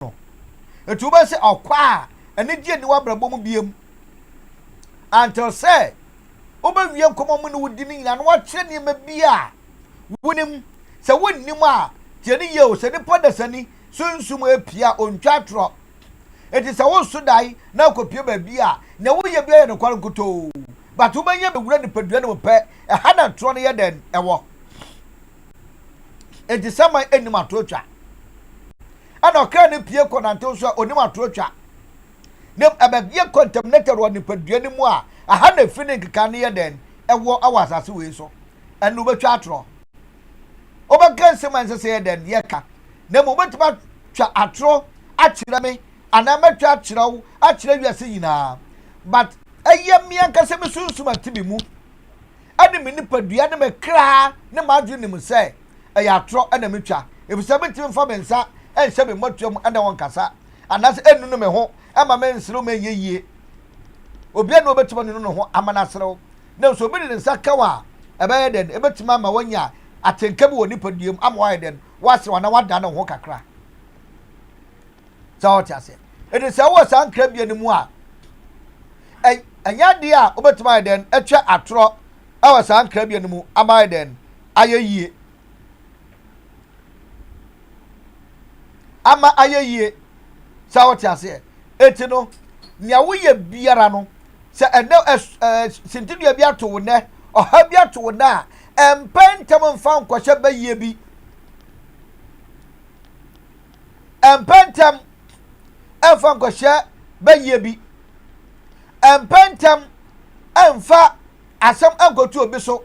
no. Enti wobɛyɛ sɛ ɔkwa a anigye nni w'abrabɔ mu biom. Until sɛ wobɛwie nkɔmmɔ mu ne wo di no nyinaa na wakyerɛ nneɛma bi a wonim. Sɛ wonnim a, tie no yie o, sɛ nipa dasani sunsum apia a ontwa atorɔ. Enti sɛ woso dae na akɔpie baabi a, nea woyɛ biara yɛ nokware nkutoo. But wobɛnya bɛwura nipadua no mu pɛ, ɛha na atorɔ no yɛ dɛn wɔ. Enti saman nnim atorɔ twa. ɛna ɔkra no pue kɔ nantew so a onim atoro twa. Na mmom ɛbɛyɛ contaminated wɔ nipadua no mu a ɛha na efi ne nkekae no yɛ dɛn wɔ wɔ asase wei so. Ɛnna wobɛtwa atorɔ. Wobɛka nsɛm a ɛnsɛ sɛ yɛ dɛn yɛka. Na mmom wobɛtumi atwa atorɔ akyerɛ me anaa mɛtwa akyerɛ wo akyerɛ wiase nyinaa. But ɛyɛ me ankasa me sunsum a ɛte me mu ɛne me nipadua ne me kra ne m'adwene nim sɛ ɛyɛ atorɔ na metwa, efisɛ mentumi mfa me nsa nhyɛ me mmɔtoa mu ne wɔn nkasa, anaasɛ ennunu me ho mma menserew ma ɛnyɛ yiye. Obiara nni hɔ a obetumi anunu ne ho ama no aserew, nanso obi de ne nsa ka wo a, ɛbɛyɛ dɛn? Ebetumi ama woanya atenka bi wɔ wo nipadua mu ama woayɛ dɛn? Woaserew anaa woadan wo ho kakra. Sɛ wote aseɛ? Enti sɛ wowɔ saa nkrabea no mu a, ɛnyɛ ade a wobetumi ayɛ dɛn? Atwa atorɔ. wɔ saa nkrabea no mu ama ayɛ dɛn ayɛ yie ama ayɛ yie sɛ wote aseɛ eti no nea woyɛ biara no sɛ ɛnɛ ɛɛ sintidua bi ato wo nɛ ɔha bi ato wo nɛ a ɛmpɛ ntɛm mfa nkɔhyɛ bɛyie bi. Ɛmpɛ ntɛm ɛmfa nkɔhyɛ bayie bi. Ɛmpɛ ntɛm ɛmfa asɛm ɛnkɔto obi so.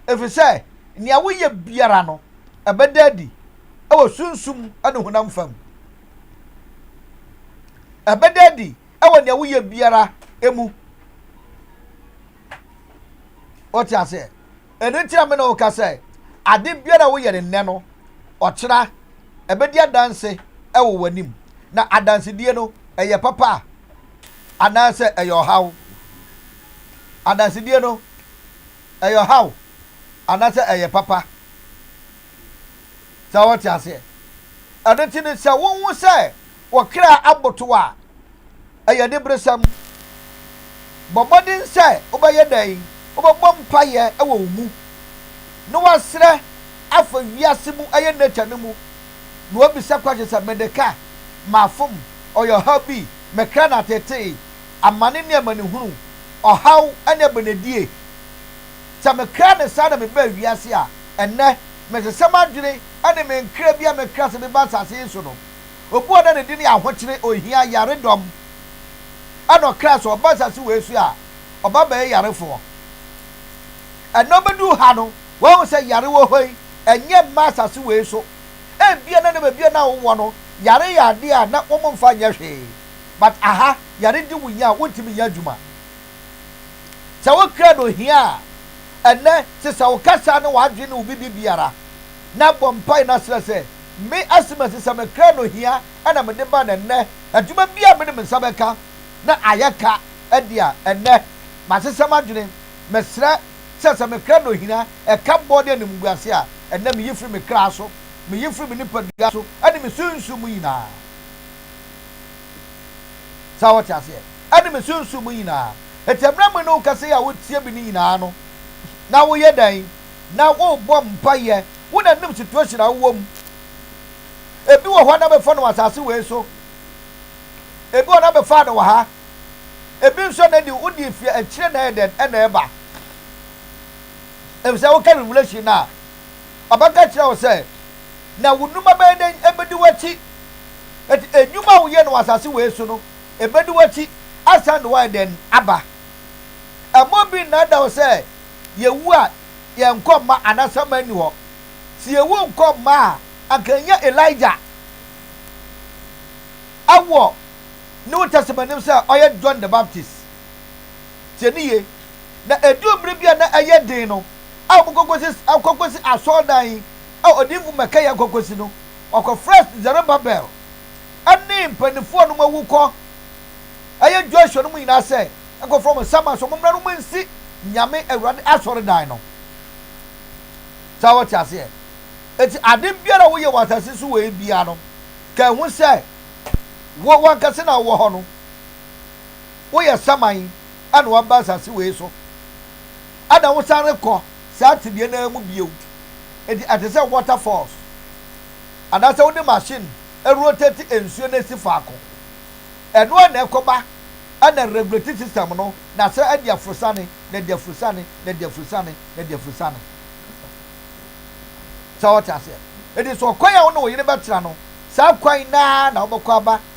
Ɛfiri sɛ nea woyɛ biara no, ɛbɛda adi wɔ sunsum ne honam fam. Ɛbɛda adi wɔ nea woyɛ biara mu. Wote aseɛ? Ɛno nti na me ne wo ka sɛ, ade biara a woyɛ no nnɛ no, ɔkyena ɛbɛdi adanse wɔ w'anim. Na adansedie no, ɛyɛ papa a, anaasɛ ɛyɛ ɔhaw? Adansedie no, ɛyɛ ɔhaw anaasɛ ɛyɛ papa? Sɛ wote aseɛ? Ɛno nti no, sɛ wohu sɛ wo kra abotow a, ɛyɛ aniberesɛm. Bɔ mmɔden sɛ wobɛyɛ dɛn? Wobɛbɔ mpaeɛ wɔ wo mu, na woasrɛ afa wiase mu, ɛyɛ nature no mu, na woabisa question sɛ, Mede ka? Mafom? Ɔyɛ ɔhaw bi? Me kra no atetee? Amane ne amanehunu, ɔhaw ne abenedie, Sɛ mekra no saa na mebaa wiase a, ɛnnɛ, mese sɛ m'adwene ne me nkra bi a mekra sɛ meba asase yi so no, obi a na ne din yɛ ahokyere, ohia, yaredɔm na ɔkra sɛ ɔba asase wei so a, ɔba bɛyɛ yarefoɔ. Ɛnnɛ ɔbɛduu ha no, wahu sɛ yare wɔ hɔ yi, ɛnyɛ mma asase wei so. Ebia na ne baabi a na wowɔ no, yare yɛ adeɛ a na wɔmfa nyɛ hwee. But aha, yare di wo nya a, wontumi nyɛ adwuma. Sɛ wo krado hia a, ɛnnɛ sesa wo kasa ne w'adwene ne wo biribiara, na bɔ mpae na srɛ sɛ, Me, Asima sesa me krado hia na mede ba na ɛnnɛ adwuma bi a mede me nsa bɛka na ayɛ ka adi a ɛnnɛ masesa m'adwene. Mesrɛ sɛ sɛ me krado hia ɛka bɔ ne animguase a ɛnnɛ meyi firi me kra so, meyi firi me nipadua so ne me sunsum mu nyinaa. Saa wɔte aseɛ ɛne me sunsum mu nyinaa. Enti ɛberɛ me ne wo kasa yi a wotie me no nyinaa no na woyɛ dɛn? Na worebɔ mpaeɛ. Wo na nim situation a wowɔ mu. Ebi wɔ hɔ na bɛfa no wɔ asase wei so. Ebi wɔ hɔ na bɛfaa no wɔ ha. Ebi nso na ɛdi wodi efie akyire na ɛyɛ dɛn na ɛba. Efisɛ woka revelation no a ɔbɛka akyerɛ wo sɛ, Na wo nnwuma bɛyɛ dɛn? Ebedi w'akyi. Enti nnwuma a woyɛ no wɔ asase wei so no, ebedi w'akyi asan de wo ayɛ dɛn? Aba. Mma obi nnaadaa wo sɛ yewu a, yɛn nkɔ mma anaa asaman nni hɔ. Sɛ yewu nkɔ mma a, anka yɛnyɛ Elijah wɔ New Testament no mu sɛ ɔyɛ John the Baptist. Tie no yie. Na ɛduru bere bi a na ɛyɛ den no, a wɔkɔkɔsi akɔkɔsi asɔredan yi a odiyifo Mikaia akɔkɔsi no, ɔkɔfrɛɛ Serubabel ne mpanimfoɔ a wɔn awu kɔ ɛyɛ Joshua no mu nyinaa sɛ ɛkɔfrɛ wɔn sɛ ama so wɔmmra no mu nsi Nyame Awurade asɔredan no. Sɛ wɔte aseɛ. Eti ade biara a woyɛ wɔ asase so wɔ yi biara no, ka ehu sɛ wo wankasa na wowɔ hɔ no. woyɛ saman a na woaba asase wei so. Ɛna wosan rekɔ saa tebea no ara mu bio. Enti ɛte sɛ water falls. Anaasɛ wode machine rotate nsuo no asi faako. Ɛno ara na ɛkɔba na regulate system no na sɛ ɛde afurusane, na ɛde afurusane, na ɛde afurusane, na ɛde afurusane. Sɛ wɔte aseɛ. Enti sɛ ɔkwan a wo ne wo yere bɛtra no, saa kwan no ara na wobɛkɔ aba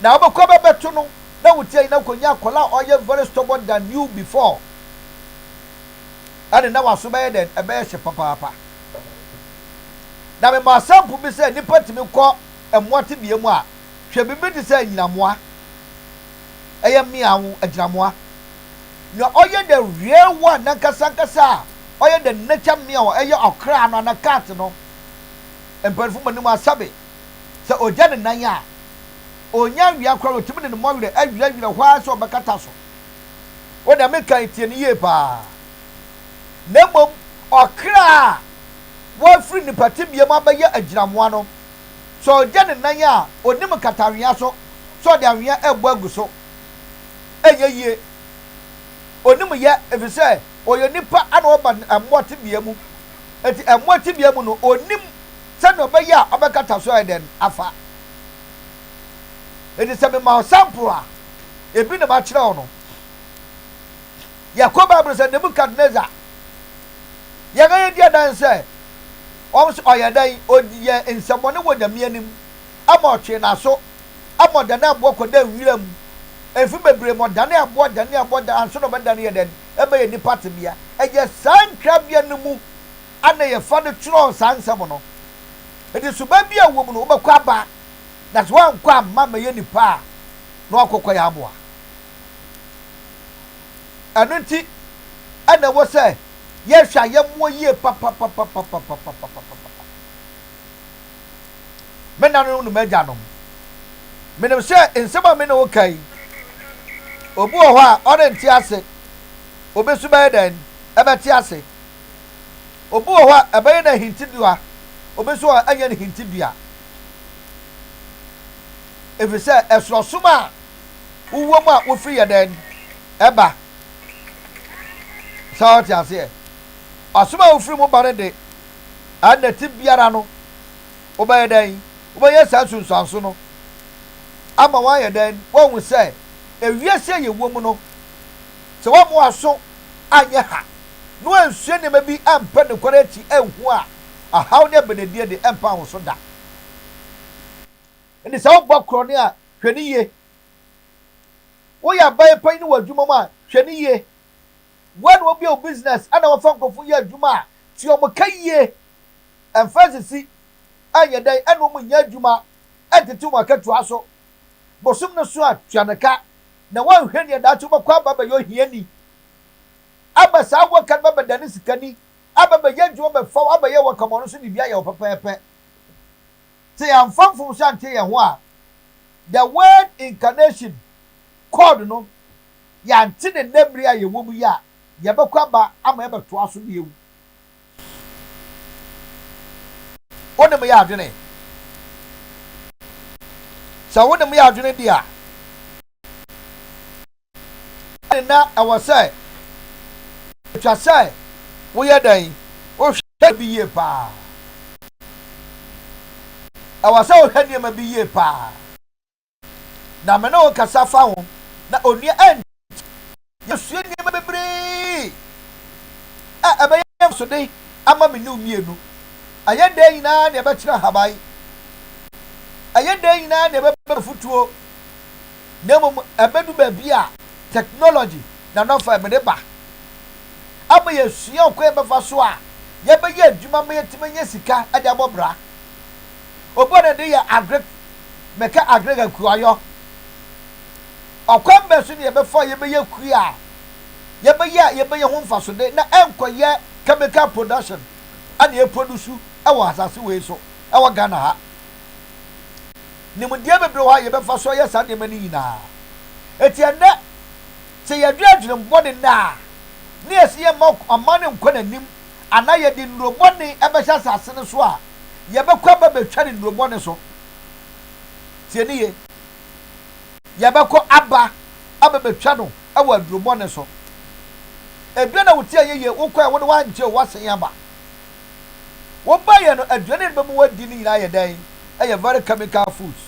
na wobɛkɔ bɛbɛto no na wotia yi na kɔnya akɔla a ɔyɛ very stubborn than you before ɛne na waso bɛyɛ dɛn ɛbɛyɛ hye papaapa na mema asampo bi sɛ nipa tumi kɔ mmoa tebea mu a hwɛ biribi te sɛ anyinamoa ɛyɛ mmea wo agyinamoa na ɔyɛ the real one nankasa nkasa a ɔyɛ the nature mmea ɛyɛ ɔkra no ana cat no mpanimfo mu anim asabe Sɛ ogya ne nan a, onnya nwea koraa a otumi de ne mmɔwerɛ awirɛwirɛ hɔ ara sɛ ɔbɛkata so. O deɛ meka yi, tie no yie paa. Na mmom ɔkra a wɔafiri nnipa tebea mu abɛyɛ agyinamoa no, sɛ ogya ne nan a, onnim nkatawea so sɛ ɔde anwea rebɔ agu so. Ɛnyɛ yie. Onnim yɛ, ɛfiri sɛ ɔyɛ onipa na ɔba mmoa tebea mu. Enti mmoa tebea mu no, onnim. sɛnea ɔbɛyɛ a ɔbɛkata so ayɛ dɛn afa. Enti sɛ mema wo sample a, ebi na makyerɛ wo no. Yɛkɔ Bible sɛ Nebukadnesar, yɛn a yɛdi adan sɛ wɔn nso ɔyɛ dɛn, ɔyɛ nsɛmmɔne wɔ Nyame anim, ɛma ɔtwee n'aso, ɛma ɔdanee aboɔ kɔdaa nwiram, mfe bebree ma ɔdanee aboɔ, danee aboɔ, anso na ɔbɛdane yɛ dɛn, ɛbɛyɛ nnipa tebea. Ɛyɛ saa nkrabea no mu. a na yɛfa no twerɛɛ saa nsɛm no. Enti suban bi a ɛwɔ mu no, wobɛkɔ aba, na sɛ woankɔ amma ammɛyɛ nnipa a, na woakɔkɔ yɛn aboa. Ɛno nti na ɛwɔ sɛ yɛhwɛ ayɛmmoɔ yie papapapapapapapapapapa. Me nananom ne m'agyanom, menim sɛ nsɛm a me ne wo ka yi, obi wɔ hɔ a ɔrente ase. Obi nso bɛyɛ dɛn? Ɛbɛte ase. Obi wɔ hɔ a, ɛbɛyɛ no ahintidua, obi nso wɔ hɔ a, ɛnyɛ no hintidua. Ɛfiri sɛ, ɛsono som a wowɔ mu a wofiri yɛ dɛn ɛba. Sɛ wɔte aseɛ, ɔsom a wofiri mu ba no de, ɛna ti biara no, wobɛyɛ dɛn? Wobɛyɛ saa sunsuanso no ama wɔayɛ dɛn? Wɔahu sɛ ewiase a yɛwɔ mu no, Sɛ woamma w'aso anyɛ ha na woansua nneɛma bi ampɛ nokware akyi anhu a, ɔhaw ne abenedie de, ɛmpa wo so da. Enti sɛ wobɔ korɔno a, hwɛ no yie. Woyɛ aban panyin wɔ adwuma mu a, hwɛ no yie. Woa na wobue wo business na wɔfa nkurɔfo yɛ adwuma a, tie wɔn ka yie. Ɛmfa nsisi, ɛnyɛ dɛn na wɔnnya adwuma ntete wɔn akatua so. bosom no so a, tua no ka, na woanhwɛ nea daakye wobɛkɔ aba abɛyɛ ohiani. Aba saa a woaka no bɛbɛdane sikani, aba abɛyɛ adwuma bɛfa wo, abɛyɛ wo akamu a ɔno nso de bi ayɛ wo pɛpɛɛpɛ. Sɛ yɛamfa mfomso anteɛ yɛn ho a, the word incarnation, kɔɔd no, yɛante ne nnɛ mmere a yɛwom yi a, yɛbɛkɔ aba ama yɛabɛtoa so bio. wo ne me yɛ adwene. Sɛ wo ne me yɛ adwene di a, ɛne na ɛwɔ sɛ ɛtwa sɛ woyɛ dɛn? Wohwɛ bi yie paa. Ɛwɔ sɛ wohwɛ nneɛma bi yie paa. na me ne wo kasa fa ho, na onua Eng. Yɛasua nneɛma bebree a ɛbɛyɛ mfasode ama me ne wo mmienu. Ɛyɛ dɛn nyinaa na ɛbɛkyerɛ ahaban, ɛyɛ dɛn nyinaa na ɛbɛba afutuo, na mmom ɛbɛdu baabi a technology na nɔfa ɛmede ba ama yɛasua ɔkwan a yɛbɛfa so a yɛbɛyɛ adwuma ma yɛatumi anya sika de abɔ bra. Obuo no de yɛ adwene bɛka adwene ka kuayɔ. Ɔkwan bɛn so na yɛbɛfa a yɛbɛyɛ kua a yɛbɛyɛ a yɛbɛnya ho mfasode na ɛnkɔyɛ chemical production na yɛproduce wɔ asase wei so wɔ Ghana ha? Nimdeɛ bebree wɔ hɔ a yɛbɛfa so ayɛ saa nneɛma no nyinaa. Enti ɛnnɛ, sɛ yɛdwene adwenem bɔne nnɛ a, na yɛse yɛmma ɔman no nkɔ n'anim anaa yɛde nnuro bɔne bɛhyɛ asase no so a, yɛbɛkɔ aba abɛtwa ne nnuro bɔne so. Tie ne ye. Yɛbɛkɔ aba aba abɛtwa no wɔ aduro bɔne so. Ebia na wote ayɛ yie, wokɔɛ, wode woankyɛ o, woasan aba. Wobaeɛ no, aduane a ɛbɛ mu wadi no nyinaa yɛ dɛn? Ɛyɛ very chemical foods.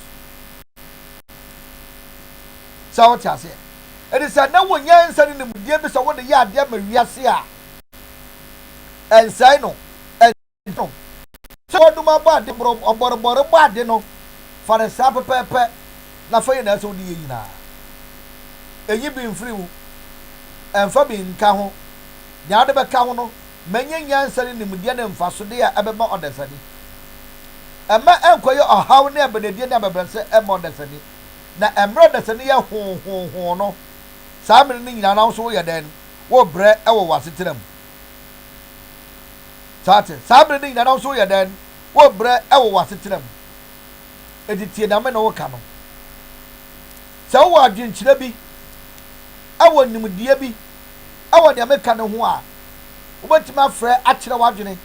Sɛ wote aseɛ. Ɛde sɛ na wɔ nyansa ne nimdeɛ bi sɛ wode yɛ adeɛ ma wiase a, Ɛnsɛe no. Ɛnsɛe no. Sɛ wɔdum abɔ ade borɔm, ɔbɔrebɔre bɔ ade no, fa no saa pɛpɛɛpɛ, na fa yi na ɛsɛ sɛ wode yɛ nyinaa. Nyi bi mfiri mu. Mfa bi nka ho. Nea wode bɛka ho no, ma ɛnyɛ nyansa ne nimdeɛ ne mfasodeɛ a ɛbɛma ɔdasani. Mma ɛnkɔyɛ ɔhaw ne abɛdadie ne abɛbrɛsɛ mma ɔdasani. Na mmerɛ a ɔdasani yɛ hoo hoo hoo no, saa mmere no nyinaa no, wo nso woyɛ dɛn? wobrɛ wɔ w'asetena mu. So ate? Saa bere no nyinaa na wo nso woyɛ dɛn? Wobrɛ wɔ w'asetena mu. Enti tie nea me ne wo ka no. Sɛ wowɔ adwenkyerɛ bi, wɔ nimdeɛ bi wɔ nea meka no ho a, wobɛtumi afrɛ akyerɛ w'adwene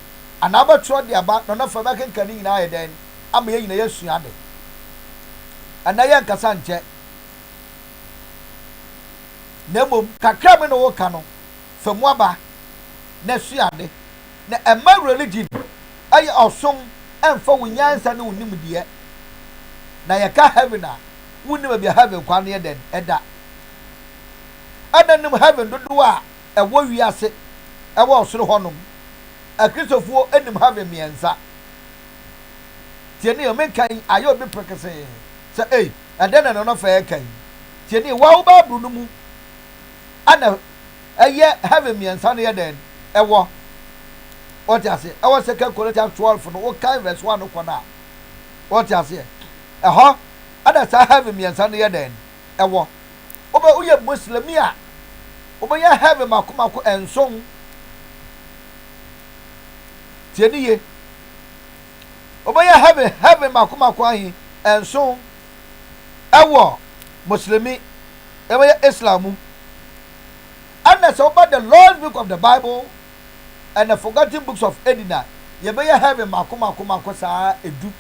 anaa wobɛtwerɛ de aba na ɔno afei bɛkenkan ne nyinaa ayɛ dɛn? Ama yɛn nyinaa yɛasua ade. Ɛnnɛ yɛnkasa nkyɛ. na mmom kakra bi na wɔka no fa mu aba na sua ade, na ɛmma religion yɛ ɔsom ɛmfa wo nyansa ne wo nimdeɛ, na yɛka heaven a wonni baabi a heaven kwan no yɛ dɛn ɛda, ɛna nim heaven dodoɔ a ɛwɔ wiase ɛwɔ ɔsoro hɔ nom, akristofoɔ nim heaven mmiɛnsa, tie ne yɛ menka yi ayɛ obi prekesee sɛ ei. Ɛdɛn na Nɔnɔfɛ reka yi? Tie nie, Waw Bible no mu a na ɛyɛ heaven mmiɛnsa no yɛ dɛn? Ɛwɔ. Wote aseɛ? Ɛwɔ Second Corinthians twelve no, wokan verse one no kɔ no a. Wote aseɛ? Ɛhɔ na saa heaven mmiɛnsa no yɛ dɛn? Ɛwɔ. Wobɛ woyɛ Muslimi a, wobɛnya heaven mako mako nson. Tie ne yie. wɔbɛyɛ heaven heaven mako mako ahe nson ɛwɔ muslimi ɛbɛyɛ islam mu ɛna sɛ wɔba the lost book of the bible and the forgotten books of edina yɛbɛyɛ heaven mako mako mako saa edu